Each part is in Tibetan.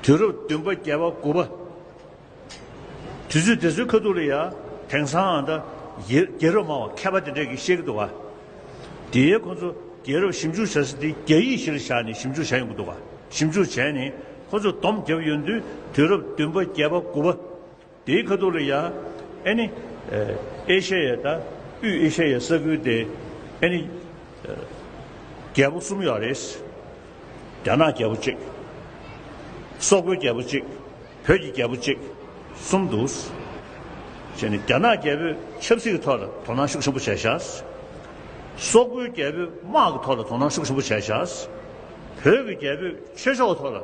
དུས་རབས་བདུན་པ་བརྒྱད་པ་དགུ་པ། དུས་ཚོད་དེ་ཚོའི་ཁ་ཐུག་ལ་ཡང་དེང་སང་ཨ་མདའ་རྒྱལ་རབས་སྨྲ་བ་མཁས་པ་དེ་འདྲས་ཀྱིས་བཤད་ཀྱི་འདུག་ག། དེ་ཡས་ཁོ་ཚོ་རྒྱལ་རབས་ཞིབ་འཇུག་བྱ་ས་དེ་རྒྱ་ཡིག་གཞིར་བཞག་ནས་ཞིབ་འཇུག་བྱ་ཡོང་གི་འདུག་ག་ཞིབ་འཇུག་བྱས་ནས་ཁོ་ཚོས་བསྡོམས་བརྒྱབ་ཡོད་དུས་དུས་རབས་བདུན་པ་བརྒྱད་པ་དགུ་པ། དེའི་ཁ་ཐུག་ལ་ཡ་ཨེ་ནི། ཨེ་ཤ་ཡའི་ད་དབུས་ཨེ་ཤ་ཡའི་ས་ཁུལ་དེ་ཨེ་ནི། རྒྱལ་པོ་གསུམ་ཡོད་རེད། རྒྱ་ནག་རྒྱལ་པོ་གཅིག། སོག་པོའི་རྒྱལ་པོ་གཅིག། བོད་ཀྱི་རྒྱལ་པོ་གཅིག། གསུམ་འདུག། ཞེས་ནི་རྒྱ་ནག་རྒྱལ་པོས་ཆབ་སྲིད་ཀྱི་ཐོག་ལ་དོ་སྣང་ཤུགས་ཆེན་པོ་བྱས་ཤག། སོག་པོའི་རྒྱལ་པོས་དམག་གི་ཐོག་ལ་དོ་སྣང་ཤུགས་ཆེན་པོ་བྱས་ཤག། བོད་ཀྱི་རྒྱལ་པོས་ཆོས་ཕྱོགས་ཀྱི་ཐོག་ལ།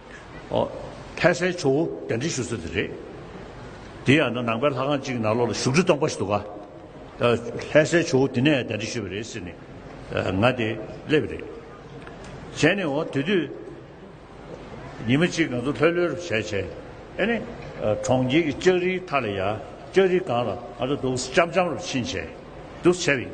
ལྷས་སའི་ཆུ་བོ་གདན་འདྲེན་ཞུ་ས་དེ་རེད། དེ་ཡང་ན་ནང་པའི་ལྷ་ཁང་གཅིག་ནང་ལོག་ལ་བཞུགས་ཁྲི་སྟོང་པ་ཞིག་འདུག་ག། ལྷས་སའི་ཆུ་བོ་དེ་ནས་གདན་འདྲེན་ཞུས་པ་རེད་ཟེར་ནས་ང་དེ་སླེབས་པ་རེད། བྱས་ནས་འོ་དེ་དུས་ཉི་མ་གཅིག་ང་ཚོ་ལྷོད་ལྷོད་རུ་བྱས་བྱས་ཨེ་ནས་གྲོང་ཁྱེར་གྱི་ལྕགས་རིའི་མཐའ་ལ་ཡ་ལྕགས་རིའི་སྒང་ལ་ང་ཚོ་འདུག་ལྕམ་ལྕམ་རུ་ཕྱིན་བྱས་འདུག་བྱས་པ་ཡིན།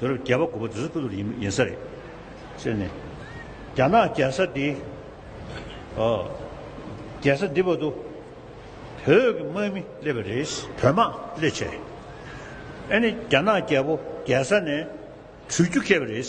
དུས་རབས་བརྒྱད་པ་དགུ་པ་དུས་ཚོད་ཁུ་ལུར་ཡིན་ས་རེད། ཟེར་ནས། རྒྱ་ནག་རྒྱལ་ས་འདི། རྒྱལ་ས་འདི་བར་དུ། བོད་ཀྱི་དམག་མི་སླེབས་པ་རེད། བོད་དམག་སླེབས་ཆེད་རེད། ཨ་ནི་རྒྱ་ནག་རྒྱལ་པོ་རྒྱལ་ས་ནས་བྲོས་རྒྱུ་སྐྱེས་པ་རེད།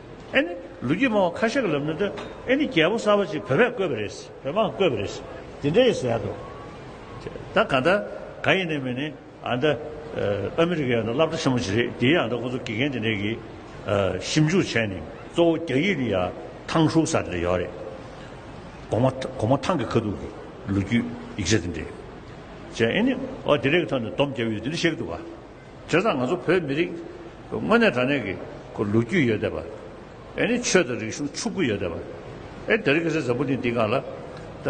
ཨེ་ནི། ལོ་རྒྱུས་སྨྲ་བ་ཁ་ཤས་ཀྱི་ལབ་ནོར་དུ་ཨེ་ནི་རྒྱལ་པོ་གསར་བ་ཅིག་བོད་པས་བསྐོས་པ་རེད། བོད་འབངས་བསྐོས་པ་རེད། དེ་འདྲ་ཡིས་ཟེར་འདུག། ད་ག་འདྲ། ག་ཡིན་ནའི་མི་ནི། ཨ་མདའ། ཨ་མི་རི་ཀའི་ཨ་མདའ་བསླབ་གྲྭ་ཆེན་མོ་ཅིག་རེད། དེའི་ཨ་མདའ་ཁོ་ཚོ་དགེ་རྒན་དེ་འདྲས་ཀྱིས། ཞིབ་འཇུག་བྱས་ནས་གཙོ་བོ་རྒྱ་ཡིག་ནི་ཡ། ཐང་ཧྲུག་ས་དེ་འདྲ་ཡོད་རེད། གོང་མ། གོང་མ་ཐང་གི་ཁ་ཐུག་གི། ལོ་རྒྱུས། ཡིག་ཆ་དེ་འདྲས། ཅེས་ཨེ་ནི། ཨོ་དེ་འདྲས་ཀྱི་ཐོག་ནས་སྡོམ་བརྒྱབ་ཡོད་དེ་འདྲ་བཤད་ཀྱི་འདུག་ག། དེ་དང་ང་ཚོ་བོད་མི་རིགས་དངོས་གནས་དྲང་གནས་ཀྱི་ལོ་རྒྱུས་ཡོད་བསྡད་པ། ཨེ་ནི་ཆོས་དང་རིག་གཞུང་ཕྱུག་པོ་ཡོད་བསྡད་པ། ཨེ་དེ་རིང་གི་སེ་ཟབ་པོ་ནི་འདི་གང་ལ། ད་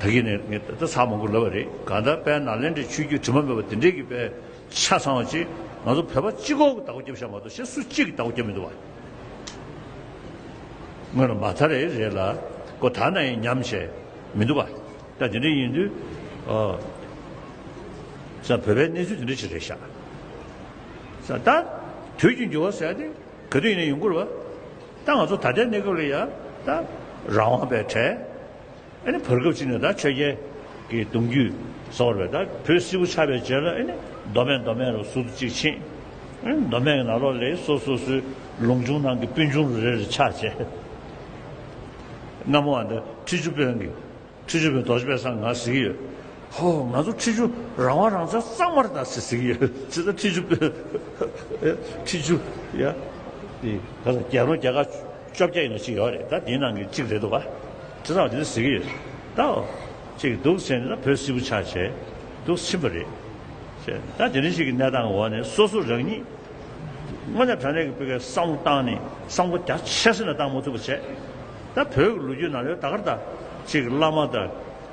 ད་གིས་ནི་ངས་ད་ཚ་མང་པོ་ལབ་པ་རེད་གང་ལྟར་དཔལ་ནཱ་ལེནྡྲའི་ཆོས་བརྒྱུད་དྲི་མ་མེད་པ་འདི་འདྲའི་གི་དཔེ་ཆ་ཚང་བ་ཅིག་ང་ཚོ་བོད་པ་གཅིག་གོ་གི་ད་གོ་རྒྱབ་ཤ་མ་གཏོགས་གཞན་སུ་གཅིག་གི་ད་གོ་རྒྱབ་མི་འདུག་བ། དངོས་ལ་མ་ཚ་རེད་རེད་ལ་གོ་ད་ནའི་ཉམས་བྱས་མི་འདུག་བ། ད་དེ་འདྲ་ཡིན་དུས། ས་བོད་པའི་གནས་ཚུལ་དེ་འདྲ་ཅིག་རེད་ཤག། ས་ད། དུས་ཀྱི་འགྱུར་བ་ཟེར་ཏེ་ག་དུས་ཡིན་ན་ཡོང་གི་རེད་བ། ད་ང་ཚོ་ད་ལྟའི་གནས་སྐབས་ལ་ཡ། ད། རང་དབང་པའི་གྲས། ཨེ་ནི་བར་སྐབས་ཅིག་ནས་ད་ཆོས་རྒྱལ། གི་གདུང་རྒྱུད། ཟེར་བ་རེད་ད་བོད་སིལ་བུ་ཆགས་པའི་རྗེས་ལ་ཨེ་ནི་མདོ་སྨད་མདོ་སྨད་རུ་ཟུར་ཅིག་ཕྱིན། ཨེ་ནི་མདོ་སྨད་ཀྱི་ནང་ལོགས་ལས་སོ་སོ་སོའི་ལུང་ཆུང་ནང་གི་སྤུན་ཆུང་རུ་རེ་རེ་ཆགས་རྗེས། སྔ་མོ་བ་འདི་ཁྲི་ཆུ་དཔོན་གྱི། ཁྲི་ཆུ་བོའི་རྡོ་རྗེ་པས་སང་ང་ཟིག་ཡོད། ཧོ། ང་ཚོ་ཁྲི་ཆུ་རང་དབང་རང་བཙན་གཙང་མར་ད་ཟིག་ཟིག་ཡོད། ཅི་ཟེར་ཁྲི་ཆུ་བོའི། ཁྲི་ཆུ། ཡ། དེ། ག་ས་རྒྱལ་རོང་རྒྱལ་ཁག་བཅོ་བརྒྱད་ཡིན་ན་གཅིག་ཡོད་རེད་ད་དེའི་ནང་གི་གཅིག་རེད་འདུག་བ། ཅི་ཟེར་བ་དེ་ད་ཟིག་ཡོད། ད་འོ། ཅིག་འདུག་ཟེར་ནས་ད་བོད་སིལ་བུ་ཆགས་བྱས། འདུག་ཕྱིན་པ་རེད། ཅེས། ད་དེ་རིང་ཞིག་གི་གནས་སྟངས་ཀྱི་འོག་ནས་སོ་སོ་རང་ཉིད། དངོས་གནས་དྲང་གནས་ཀྱི་སྤུས་ཀའི་བསམ་བློ་བཏང་ནས་བསམ་བློ་རྒྱ་ཆེ་སེ་ན་བཏང་མ་ཐུབ་པ་བྱས། ད་བོད་ཀྱི་ལོ་རྒྱུས་ནང་ལོའི་ཟླ་སྐར་དང། ཕྱིས་ཀྱི་བླ་མ་དང།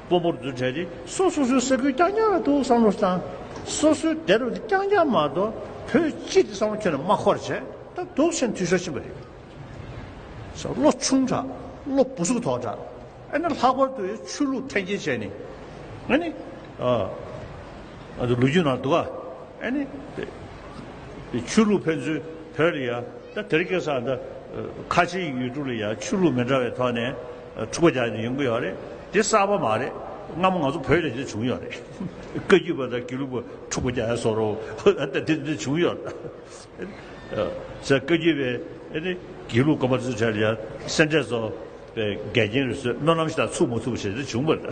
དཔོན་པོར་རྫུན་ཕྲད་དེ། སོ་སོ་སོའི་ས་ཁུལ་རྐྱང་རྐྱང་ལ་ཐུག་བསམ་བློ་བཏང། སོ་སོའི་སྡེ་རུ་རྐྱང་རྐྱང་མ་གཏོགས་བོད་སྤྱི་དེ་བསམ་བློ་ཁྱོན་ནས་མ་འཁོར་བྱས། ད་དུག་ཆེན་འཐུས་ཤོར་ཕྱིན་པ་རེད། ཟེར་བློ་ཆུང་དྲགས། བློ་སྤུ་གཟུགས་ཐོག་དྲགས། ཨ་ནི་ལྷག་པར་དུ་ཆོས་ལུགས་འཐེན་འཁྱེར་བྱས་ནས། ཨ་ནི། ལོ་རྒྱུས་ནང་འདུག་ག། ཨ་ནི། ཆོས་ལུགས་ཕན་ཚུན་བོད་ལ་ཡང་ད་དེར་སྐྱེས་ས་ད་ཁ་ཆེའི་ཡུལ་གྲུ་ལ་ཡང་ཆོས་ལུགས་མི་འདྲ་བའི་ཐོག་ནས་འཁྲུག་པ་རྒྱག་ནས་ཡོང་གི་ཡོད་རེད་དེ་གསར་པ་མ་རེད་སྔ་མོ་ང་ཚོ་བོད་ལ་དེ་བྱུང་ཡོད་རེད་བཀའ་རྒྱུད་པ་དང་དགེ་ལུགས་པ་འཁྲུག་པ་རྒྱག་ཡ་སོ་རོ་ད་དེ་འདི་བྱུང་ཡོད་རེད་བཀའ་རྒྱུད་པའི་དགེ་ལུགས་དཀོན་པ་ཚོའི་གྲས་ལ་ཡང་སེམས་ཁྲལ་བཟོ་བའི་འགལ་རྐྱེན་རེ་ཟོས་སྨོན་ལམ་ཞིག་ད་ཚུགས་མ་ཚུགས་ཞེས་དེ་བྱུང་པ་རེད་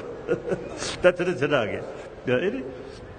ད་དེ་རེད་དེ་འདྲ་གི་རེད།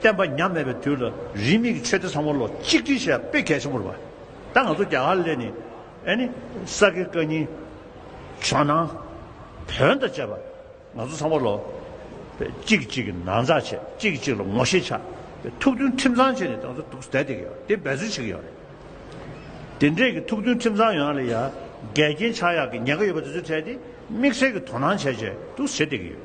བསྟན་པ་ཉམས་མེད་པའི་དུས་ལ་རིས་མེད་ཀྱི་ཆོས་སྡེ་ཚང་མ་ལོ་གཅིག་སྒྲིལ་བྱས་པ་དཔེ་གལ་ཆེན་པོར་བ། ད་ང་ཚོ་རྒྱ་གར་ལས་ནི་ཨེ་ནི་ས་དགེ་བཀའ་རྙིང། ཇོ་ནང། བོན་དང་བཅས་པ་ང་ཚོ་ཚང་མ་ལོ། གཅིག་གིས་གཅིག་གི་ན་ཚ་བྱས་གཅིག་གིས་གཅིག་ལ་ངོ་ཤེས་ཆགས་ཏེ་ཐུགས་མཐུན་ཁྲིམས་གཙང་བྱས་ནས་ད་ང་ཚོ་འདུག་ས་དེ་ག་དེ་འབད་རྩོལ་བྱེད་ཀྱི་ཡོད་རེད། དེ་འདྲས་ཀྱི་ཐུགས་མཐུན་ཁྲིམས་གཙང་ཡོད་ན་ལ་ཡ་འགལ་རྐྱེན་ཆགས་ཡག་གི་ཉེན་ཁ་ཡོད་པ་དེ་ཚོ་བྲལ་ཏེ་དམིགས་བསལ་གྱི་དོ་སྣང་བྱས་བྱས་འདུག་ས་དེ་ག་ཡོད།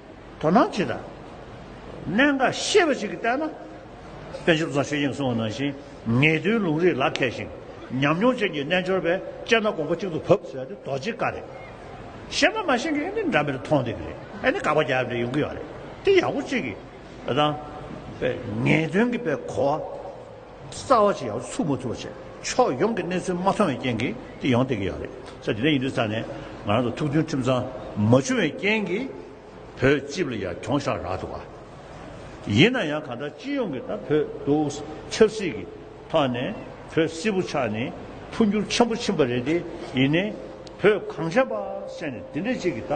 དོ་སྣང་བྱེད། གནད་འགག་ཤེས་པ་ཞིག་གིས་བལྟས་ན། དཔོན་ཆེན་བཟང་ཞོལ་དབྱིངས་སྲོང་ནང་བཞིན་ངེས་དོན་ལུང་རིགས་ལག་ཁྱེར་ཞིང་ཉམས་མྱོང་ཅན་གྱི་རྣལ་འབྱོར་པས་དཔྱད་ན་དགོངས་པ་གཅིག་ཏུ་བབས་ཟེར་བ་དེ་རྡོ་རྗེའི་བཀའ་རེད། ཤེས་པ་མ་ཤེས་ཀྱི་ཨེ་ནི་འདྲ་མིར་མཐོང་བསྡད་ཀྱི་རེད་ཨེ་ནི་དགག་པ་རྒྱག་ཡབ་འདྲ་ཡོང་གི་ཡོད་རེད་དེ་ཡག་པོ་གཅིག་གིས་དང། ངེས་དོན་གྱི་པའི་གོ་བ། རྩ་བ་ཅི་ཡང་ཚུགས་མ་ཐུབ་པ་བྱས། ཕྱོགས་ཡོངས་ཀྱི་གནས་ཚུལ་མ་མཐོང་བའི་རྐྱེན་གྱིས་དེ་ཡོང་སྡད་ཀྱི་ཡོད་རེད། ས་དེ་འདྲ་ཡིན་དུས་ས་ནས་ང་རང་ཚོ་ཐུགས་མཐུན་ཁྲིམས་གཙང་མ་བྱུང་བའི་རྐྱེན་གྱིས་བོད་སྤྱི་བ་ལ་ཡར་གྱོང་བཞག་རག་འདུག་ག། ཡིན་ན་ཡང་གང་ལྟར་སྤྱི་ཡོངས་ཀྱི་ད་བོད་དུ་ཆབ་སྲིད་ཀྱི་ཐོག་ནས་བོད་སིལ་བུ་ཆགས་ནས་འཕོ་འགྱུར་ཆེན་པོ་ཕྱིན་པ་རེད་དེ་ཡིན་ནས་བོད་གངས་ཅན་པ་བསད་ནས་དེ་འདྲས་ཅིག་གི་ད་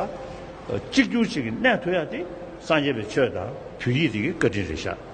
གཅིག་གྱུར་ཅིག་གི་གནས་ཐུག་ཡག་དེ་སངས་རྒྱས་པའི་ཆོས་དང་བོད་ཡིག་དེ་གི་བཀའ་དྲིན་རེད་ཤག།